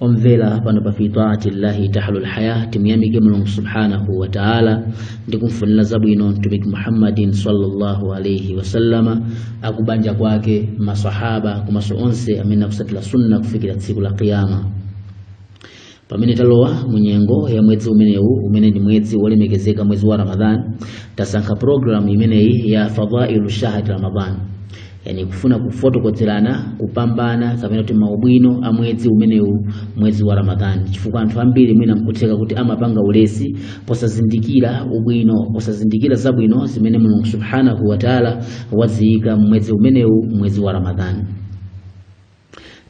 omvera pano pa fi taati llahi tahlul haya timuyamike mulungu subhanahu wa taala ndi kumfunira zabwino mtumiki muhammadin sallallahu alaihi wasallama akubanja kwake masahaba komanso onse amene akutsatira sunna kufikira tsiku la qiyama pamene talowa mu nyengo ya mwezi umenewu umene ndi mwezi wolemekezeka mwezi wa ramadhan tasankha programu imeneyi ya fadailu shahri ramadan yani kufuna kufotokozerana kupambana kapena kuti maubwino a mwezi umenewu mwezi wa ramadhani chifukwa anthu ambiri mwina nkutheka kuti amapanga ulesi posazindikira ubwino posazindikira zabwino zimene mulungu subhanahu wataala waziyika mmwezi umenewu mwezi wa ramadhani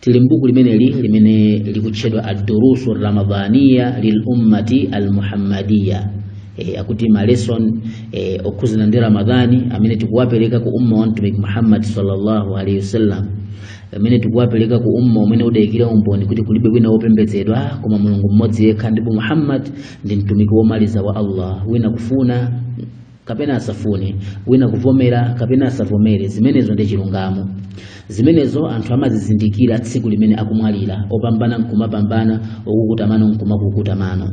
tili mbuku limeneli limene likutchedwa ad-durusu ramadhaniya lil ummati al-muhammadiya e, akuti ma lesson e, okhudzana ndi ramadhani amene tikuwapereka ku umma wa mtumiki muhammad sallallahu alaihi wasallam amene tikuwapereka ku umma umene udayikira umboni kuti kulibe wina wopembedzedwa koma mulungu mmodzi yekha ndipo muhammad ndi mtumiki womaliza wa allah wina kufuna kapena asafune wina kuvomera kapena asavomere zimenezo ndi chilungamo zimenezo anthu amazizindikira tsiku limene akumwalira opambana nkumapambana okukuta mano nkumakukuta mano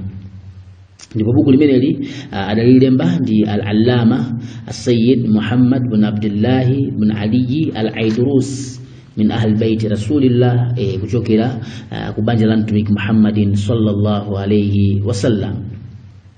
ndipo buku limeneli ah, adalilemba ndi al-allama asayid muhammad bin abdillahi bin aliyi al-aidrus min ahli baiti rasulillah eh, kuchokera ah, ku banja la mtumiki muhammadin sallallahu alaihi wasallam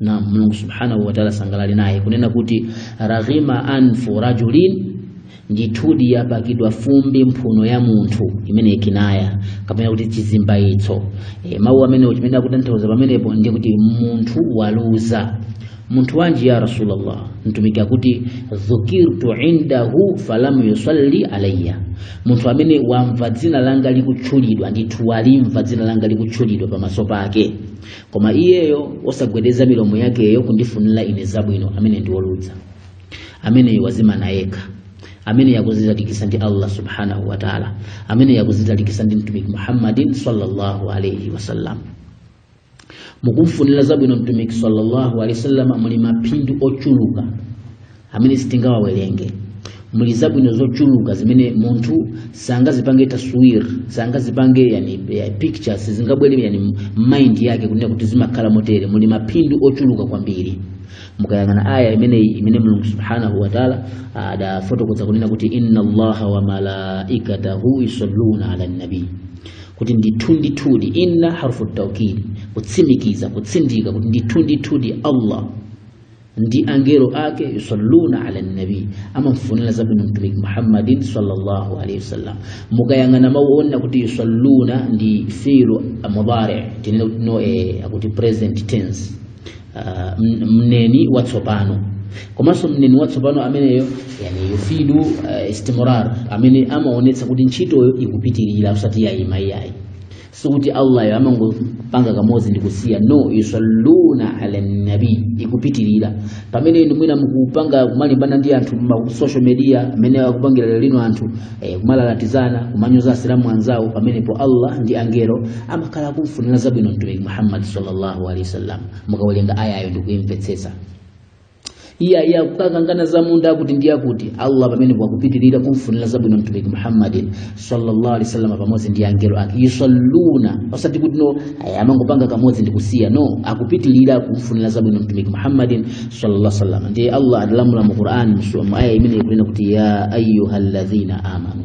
na Mulungu subhanahu wa ta'ala asangalale naye kunena kuti raghima anfu rajulin ndithudi yapakidwa fumbi mphuno ya munthu imeneyi kinaya kapena kuti chizimbayitso e, mawu amenewo chimene akutanthauza pamenepo ndi kuti munthu waluza munthu wanji ya rasulullah mtumiki akuti dhukirtu indahu falam yusalli alayya munthu amene wamva dzina langa likutchulidwa ndithu walimva dzina langa likutchulidwa pamaso pake koma iyeyo osagwedeza milomo yakeyo kundifunira ine zabwino amene ndi woluza ameneyo wazimana yekha ameneyo akuzitalikitsa ndi allah subhanahu wa taala ameneyo akuzitalikitsa ndi mtumiki muhammadin sallallahu alaihi wasallam mukumfunira zabwino mtumiki sallallahu alaihi wasallam muli maphindu ochuluka amene sitingawawerenge muli zabwino zochuluka zimene munthu sangazipange taswir sangazipange yani ya picture sizingabwere yani mind yake kunena kuti zimakhala motere muli maphindu ochuluka kwambiri mukayang'ana aya imene imene mulungu subhanahu wa taala adafotokoza kunena kuti inna allaha wa malaikatahu yusalluna ala nabii kuti ndithundithudi inna harfu taukidi kutsimikiza kutsindika kuti ndithundithudi allah ndi angelo ake yusalluna ala nabi amamfunira zabwino mtumiki muhammadin sallallahu alaihi wasallam mukayang'ana mawu onena kuti yusalluna ndi filu mudhari tinene kuti no eh, akuti present tense Ah, m- mneni watsopano komanso mneni watsopano ameneyo yani yufidu uh, istimrar amene amaonetsa kuti ntchitoyo ikupitirira osati yayima iyayi sikuti allah amangopanga kamodzi ndi kusiya no yusalluna ala nabi ikupitirira pamene inu mwina mukupanga kumalimbana ndi anthu ma social media amene akupangira lero lino anthu eh, kumalalatizana kumanyoza asilamu anzawo pamenepo allah ndi angelo amakhala akumfunira zabwino mtumiki muhammad sallallahu alaihi wasallam mukawerenga ayayo ndikuimvetsetsa iye iye akukakangana za munda akuti ndi akuti allah pamenepo akupitirira kumfunira zabwino mtumiki muhammadin sallallahu alaihi wasallam pamodzi ndi angelo ake yusalluna osati kuti no aya, amangopanga kamodzi ndi kusiya no akupitirira kumfunira zabwino mtumiki muhammadin sallallahu alaihi wasallam ndiye allah adalamula mu qur'an mu aya imene ikunena kuti ya ayyuhalladhina amanu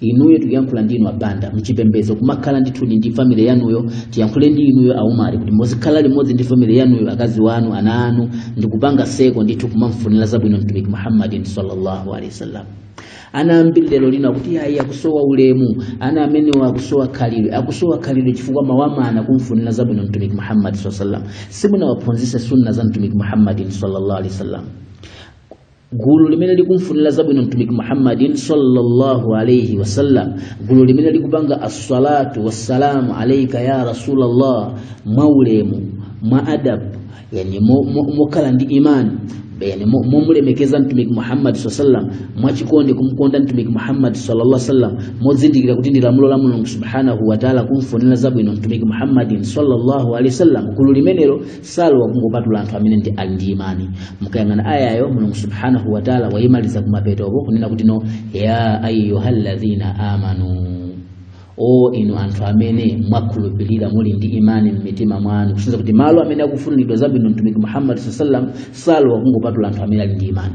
inuyo tikuyankhula ndi inu abanda mchipembedzo kumakhala ndithudi ndi family yanuyo tiyankhule ndi inuyo aumali kuti muzikhala limodzi ndi family yanuyo akazi wanu ana anu ndikupanga circle ndithu kumamfunira zabwino mtumiki muhammadin sallallahu alaihi wasallam ana ambiri lero lino akuti ayi akusowa ulemu ana amenewo akusowa khalidwe akusowa khalidwe chifukwa mawamana kumfunira zabwino mtumiki muhammad saa sallam simunawaphunzise sunna za mtumiki muhammadin sallallahu alaihi wasallam gulu limene likumfunira zabwino mtumiki muhammadin sallallahu alaihi wasallam gulu limene likupanga assalatu wassalamu alaika ya rasulallah mwaulemu mwa adabu yani mokhala mo, mo ndi imani yani momulemekeza mo mtumiki muhammadi saa sallam mwachikondi kumkonda mtumiki muhammadi sallallahu sallam mozindikira kuti ndi lamulo la mulungu subhanahu wataala kumfunira zabwino mtumiki muhammadin sallallahu alaihi wasallam gulu limenelo salowa kungopatula anthu amene ndi ali ndi imani mukayang'ana ayayo mulungu subhanahu wataala wayimaliza kumapetoko kunena kuti no ya ayuha alladhina amanu o inu anthu amene mwakhulupirira muli ndi imani m'mitima mwanu kusonyeza kuti malo amene akufuniridwa zabwino mtumiki muhammad saa sallam salowa kungopatula anthu amene ali ndi imani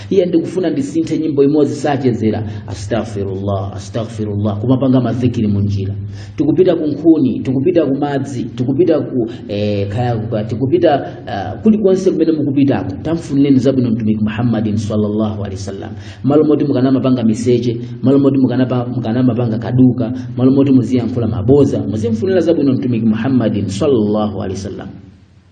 iye ndikufuna ndisinthe nyimbo imodzi sachezera astaghfirullah astaghfirullah kumapanga madhikiri munjira tikupita ku nkhuni tikupita ku madzi tikupita ku eh, kaya kuka- tikupita uh, kulikonse kumene mukupitako tamfunireni zabwino mtumiki muhammadin sallallahu alaihi wasallam malo moti mukanamapanga miseche malo moti mukanapa- mukanamapanga kaduka malo moti muziyankhula maboza muzimfunira zabwino mtumiki muhammadin sallallahu alaihi wasallam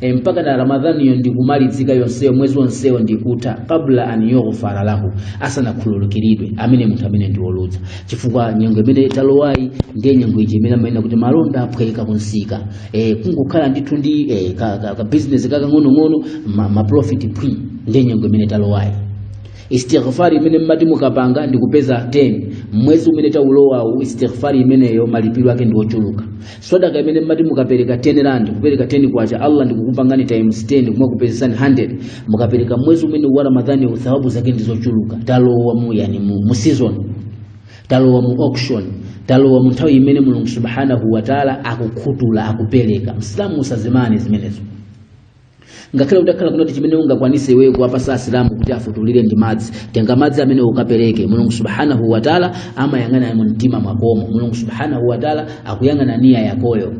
e, mpaka na ramadhaniyo ndikumalizika yonseyo mwezi wonsewo ndikutha kabla an yughfara lahu asanakhululukiridwe amene munthu amene ndiwoluza chifukwa nyengo imene talowayi ndiye nyengo ija imene amanena kuti malonda aphweka kunsika e, kungokhala ndithu ndi e, ka, ka, ka business kakang'onong'ono ma, ma profit phwi ndiye nyengo imene talowayi istighfari imene mmati mukapanga ndikupeza 10 mwezi umene taulowawu istighfari imeneyo malipiro ake ndi ochuluka sadaka imene mmati mukapereka 10 rand kupereka 10 kwacha allah ndikukupangani times 10 kumakupezetsani 100 mukapereka mwezi umene wa ramadhani uwu, thawabu zake ndizochuluka talowa mu yani mu, mu season talowa mu auction talowa mu nthawi imene mulungu subhanahu wataala akukhutula akupereka msilamu usazimane zimenezo ngakhale utakhala kuti chimene ungakwanise iweyo kuwapatsa asilamu kuti afutulire ndi madzi tenga madzi amenewo ukapereke mulungu subhanahu wataala amayang'ana mu mtima mwakomo mulungu subhanahu wataala akuyang'ana niya yakoyo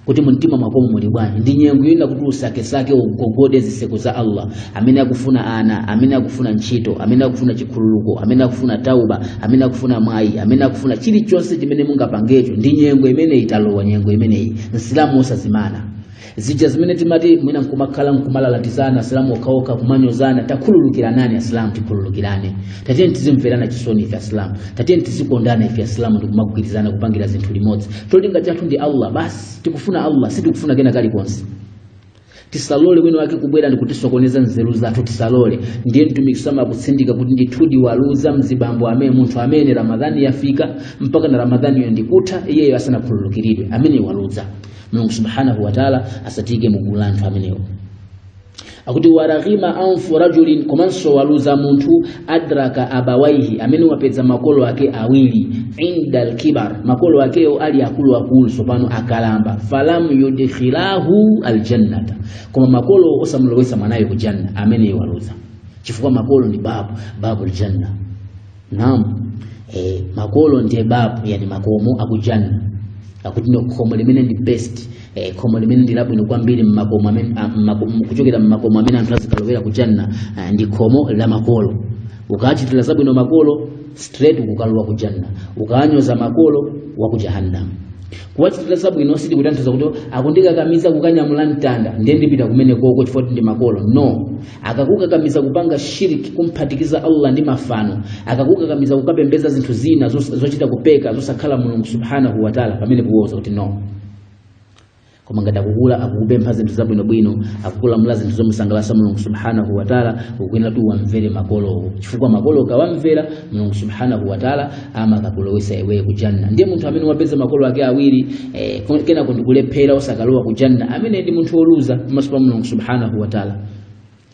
kuti mumtima mwakomo muli bwanji ndi nyengo yonena kuti usakesake ugogode ziseko za allah amene akufuna ana amene akufuna ntchito amene akufuna chikhululuko amene akufuna tauba amene akufuna mwayi amene akufuna chilichonse chimene mungapangecho ndi nyengo imene italowa nyengo imeneyi msilamu osazimana zija zimene timati mwina nkumakhala nkumalalatizana asilamu okhaokha kumanyozana takhululukiranani asilamu tikhululukirane tatiyeni tizimverana chisoni ife asilamu tatiyeni tizikondana ife asilamu ndikumagwirizana kupangira zinthu limodzi cholinga chathu ndi allah basi tikufuna allah sitikufuna kena kalikonse tisalole wina wake kubwera ndikutisokoneza nzeru zathu tisalole ndiye mtumiki sama akutsindika kuti ndithudi waluza mzibambo amene munthu amene ramadhani yafika mpaka na ramadhaniyo ndikutha iyeyo asanakhululukiridwe amene waluza mulungu subhanahu wataala asatiyike mu gulu la anthu amenewo akuti waraghima anfu rajulin komanso waluza munthu adraka abawaihi amene wapeza makolo ake awiri inda alkibar makolo akewo ali akuluakulu tsopano akalamba falam yudkhilahu aljannata koma makolo osamulowetsa mwanayo ku janna amene waluza chifukwa makolo ndi babu babu aljanna naam eh, makolo ndiye babu yani makomo akujanna akuti ndi khomo limene ndi best eh, khomo limene ndi labwino kwambiri mmakomo amene ah, mmako- m- kuchokera mmakomo amene anthu azikalowera kujanna ah, ndi khomo la makolo ukachitira zabwino makolo straight ukukalowa kujanna ukanyoza makolo wa ku jahannam kuwachitira zabwino sikutanthauza kuti akundikakamiza kukanyamula mtanda ndiye ndipita kumene koko chifukwa ndi makolo no akakukakamiza kupanga shiriki kumphatikiza allah ndi mafano akakukakamiza kukapembeza zinthu zina zos- zochita kupeka zosakhala mulungu subhanahu wataala pamene kuwauza kuti no koma ngati akukula akukupempha zinthu zabwinobwino akukulamula zinthu zomusangalatsa mulungu subhanahu wataala ukuyenera kuti uwamvere makolowo chifukwa makolo ukawamvera mulungu subhanahu wataala amakakulowesa iwe ku janna ndiye munthu amene wapeza makolo ake awiri eh, kon- kenako ndikulephera osakalowa ku janna amene ndi munthu woluza pamaso pa mulungu subhanahu wataala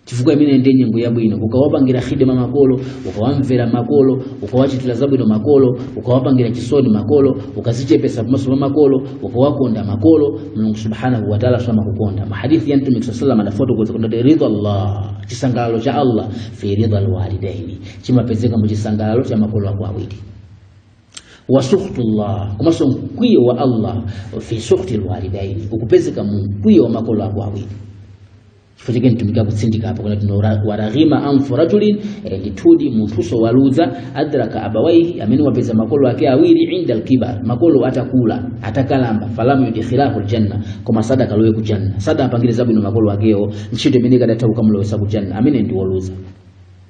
chifukwa imene ndi nyengo yabwino ukawapangira khidma makolo ukawamvera makolo ukawachitira zabwino makolo ukawapangira chisoni makolo ukazichepesa pamaso pa makolo ukawakonda makolo mulungu subhanahu wataala amakukonda mahadithi ya mtumiki saa salam adafotokoza kuti ridha llah chisangalalo cha allah fi ridha lwalidaini chimapezeka mu chisangalalo cha makolo ako awiri wa suhtullah komanso mkwiyo wa allah fi suhti lwalidaini ukupezeka mu mkwiyo wa makolo ako awiri chifukwa chake mtumiki akutsindika apo kuti waraghima anfu rajulin eh, ndithudi munthuso waluza adraka abawaihi amene wapeza makolo ake awiri inda alkibar makolo atakula atakalamba falamu yudkhilahu aljanna koma sadakalowe ku janna sadapangire zabwino makolo akewo ntchito imene ikadatha kukamulowesa ku janna amene ndi woluza